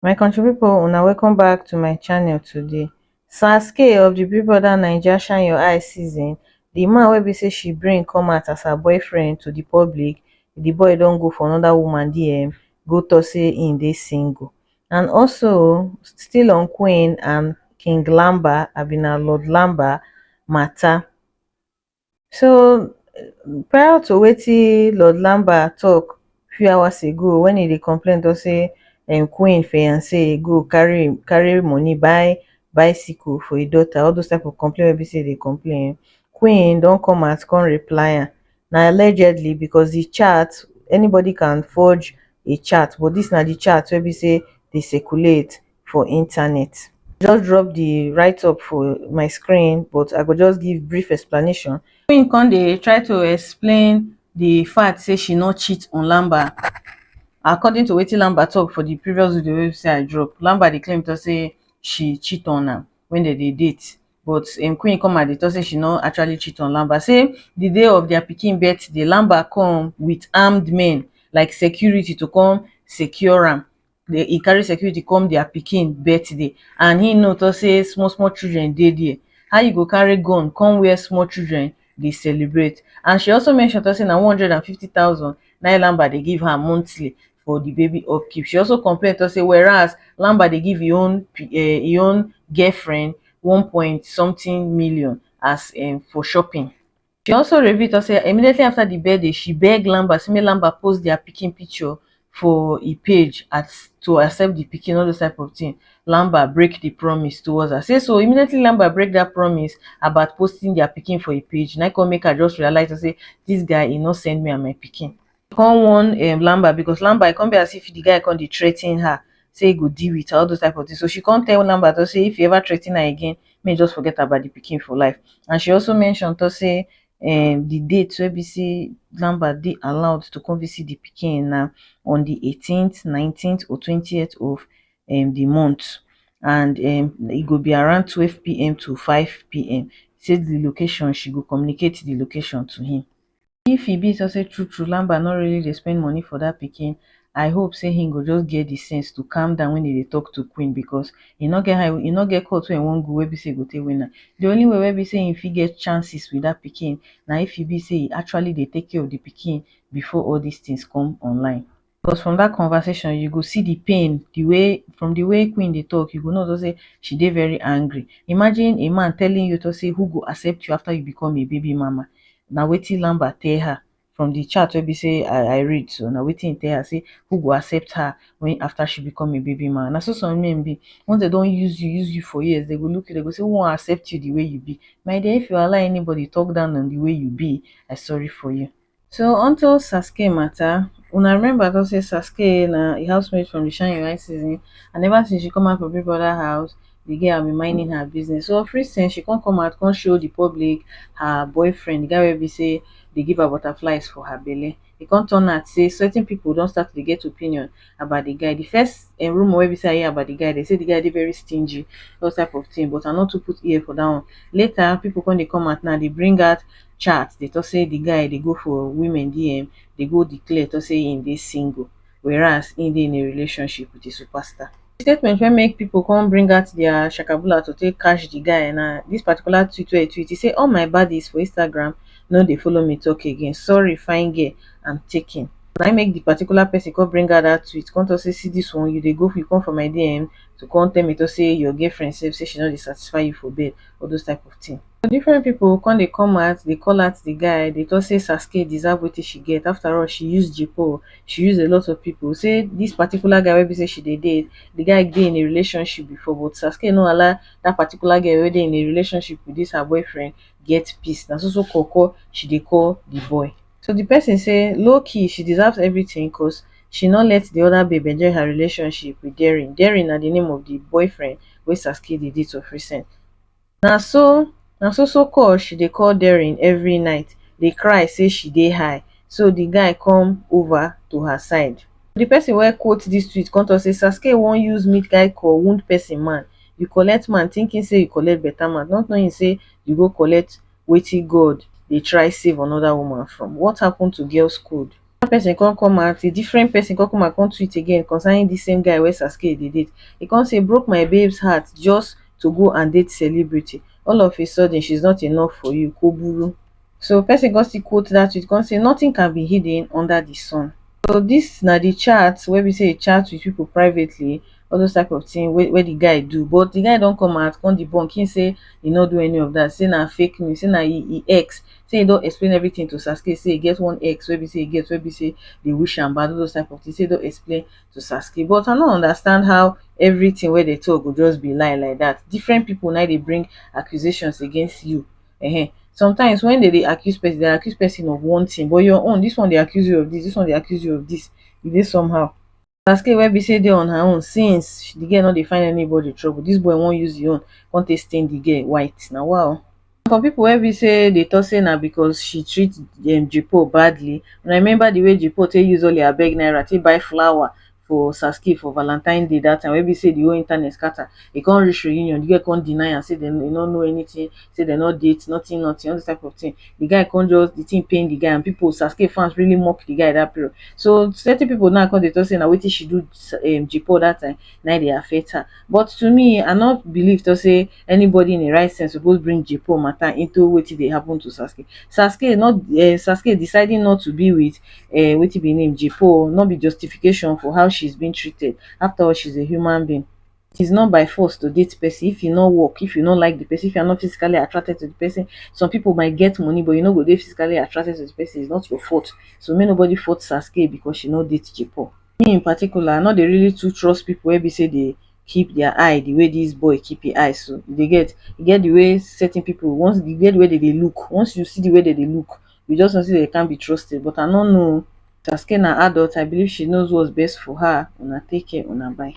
my country pipo una welcome back to my channel today sars k of di big brother naija shine your eye season di man wey be say she bring come out as her boyfriend to di public di boy don go for anoda woman dm go tok say im dey single and also still on queen and king lamba abi na lord lamba mata So prior to wetin Lord Lambert talk few hours ago when he dey complain don say um Queen fiance go carry him carry money buy bicycle for him daughter all those type of complain wey be say dey complain Queen don come out come reply am na allegedly because the chat anybody can forge a chat but this na the chat wey be say dey circulate for internet. Just drop the write up for my screen but I go just give brief explanation. Queen come dey try to explain the fact say she no cheat on Lamba. According to wetin Lamba talk for the previous video wey say I drop, Lamba dey claim to say she cheat on am when they dey date but um, Queen come at the talk say she no actually cheat on Lamba. Say the day of their pikin birthday, Lamba come with armed men like security to come secure am dey e carry security come dia pikin birthday and him know talk say small small children dey dia how you go carry gun come where small children dey celebrate and she also mention talk say na one hundred and fifty thousand naim lamba dey give her monthly for di baby upkeep she also complain talk say whereas lamba dey give im own um im own girlfriend one point something million as um for shopping She also reveal tok say immediately afta di birthday she beg Lamba say make Lamba post dia pikin picture for e page as to accept di pikin all those type of tin Lamba break di promise towards her say so immediately Lamba break dat promise about posting dia pikin for e page na im come make her just realise say dis guy e no send me and my pikin. come warn um lamber because lamber e come be as if the guy come dey threaten her say e go deal with her all those type of thing so she come tell lamber to say if e ever threaten her again make e just forget about the pikin for life and she also mention to say um the date wey be say lamber dey allowed to come visit the pikin na on the eighteenth nineteenth or twentieth of um the month and um e go be around twelve pm to five pm say the location she go communicate the location to him If e be so sey true true Lamba no really dey spend money for dat pikin, I hope sey he go just get the sense to calm down when he dey talk to queen because he no get how, he no get court wey he wan go wey be sey he go take win am. The only way wey be sey he fit get chances with dat pikin na if e be sey he actually dey take care of the pikin before all dis things come online. Because from dat conversation you go see di pain, di way from di way Queen dey talk you go know just sey she dey very angry. Imagine a man telling you just sey who go accept you after you become a baby mama, na wetin Lambert tell her from di chat wey be sey I read so na wetin im tell her sey who go accept her wen after she become a baby mama. Na so some men be, once dem don use you use you for years dem go look you dem go sey who wan accept you di way you be? My dear if you allow anybody talk down on di way you be, I sorry for you. So onto Sasuke matter, una remember I talk say Sasuke na a housemate from the Shine Your Eye season and ever since she come out from Big Brother house, the girl have been minding her business. So of recent, she come come out come show the public her boyfriend, the guy wey be say dey give her butterflies for her belle. E come turn out say certain people don start to dey get opinion about di guy. Di first um rumor wey be sey I hear about di guy, dem sey di guy dey very stingy, all type of tin but I nor too put ear for dat one. Later, pipu kon dey come out now dey bring out chat dey talk sey di guy dey go for women DM, dey go declare talk sey e dey single, whereas e dey in a relationship wit a super star. Di statement wey make pipu kon bring out dia shakabula to take catch di guy na dis particular tweet wey e tweet, e sey all my baddies for Instagram nor dey follow me talk again, sorry fine girl, am taken. na im make the particular person come bring out that tweet come talk say see this one you dey go you come for my DM to come tell me to say your girlfriend sef say she no dey satisfy you for bed all those type of thing so different people come dey come out dey call out the guy dey talk say Saskia deserve wetin she get after all she use J-Paul she use a lot of people say this particular guy wey be say she dey date the guy dey in a relationship before but Saskia no allow that particular girl wey dey in a relationship with this her boyfriend get peace na so so call call she dey call the boy to di pesin say lowkey she deserves evritin cos she no let di oda babe enjoy her relationship wit derian derian na di name of di boyfriend wey saskie dey date of recent na so na so so call she dey call derian evri night dey cry say she dey high so di guy come ova to her side di pesin wey quote dis tweet come tok say saskie wan use meet guy call wound pesin man you collect man tinkin say you collect beta man not knowing say you go collect wetin God dey try save another woman from. What happened to girls code? Another person come come out, a different person come come out come tweet again concerning this same guy wey Sasuke dey date. He come say, broke my babe's heart just to go and date celebrity. All of a sudden, she's not enough for you. Ko buru. So person come still quote that tweet come say, nothing can be hidden under the sun. So dis na di chat wey be say e chat with pipo privately all those type of tin wey di guy do but di guy don come out come debunk him say e no do any of dat say na fake news say na him ex say e don explain everytin to Sasuke say e get one ex wey be say e get wey be say dey wish am bad all those type of tin say e don explain to Sasuke but I no understand how everytin wey dem talk go just be lie like dat different pipo na im dey bring accusations against you um sometimes when dem dey accuse person, dem dey accuse person of one thing but your own, this one dey accuse you of this, this one dey accuse you of this, e dey somehow. Tasky wey be say dey on her own since the girl no dey find anybody trouble, this boy wan use him own come take stain the girl white, na wa o. Some people wey be say dey talk say na because she treat um J-Paul badly, una remember the way J-Paul take use all him abeg naira take buy flower for Saskey for valantine day dat time wey be sey di whole internet scatter, e come reach reunion di girl come deny am sey e nor know anything, sey dem nor date nothing nothing all dis type of thing, di guy come just di thing pain di guy and people Saskey fans really mock di guy dat period, so certain people na come dey talk sey na wetin she do Jay Paul dat time na im dey affect her, but to me I nor believe talk sey anybody in im right sense suppose bring Jpol matter into wetin dey happen to Sasuke, Sasuke not um Sasuke deciding not to be with um wetin be im name Jpol no be justification for how she's being treated after all she's a human being it is not by force to date person if e no work if you no like the person if you are not physically attracted to the person some people might get money but you no go dey physically attracted to the person it's not your fault so make nobody fault Sasuke because she no date Jpol, me in particular I no dey really too trust people wey be say dey keep their eye the way this boy keep him eye so, you dey get. E get the way certain people, once e get the way dem dey look, once you see the way dem dey look, you just know say dem can't be trusted, but I no know o. Tasky na adult, I believe she knows what's best for her, una take care, una bye.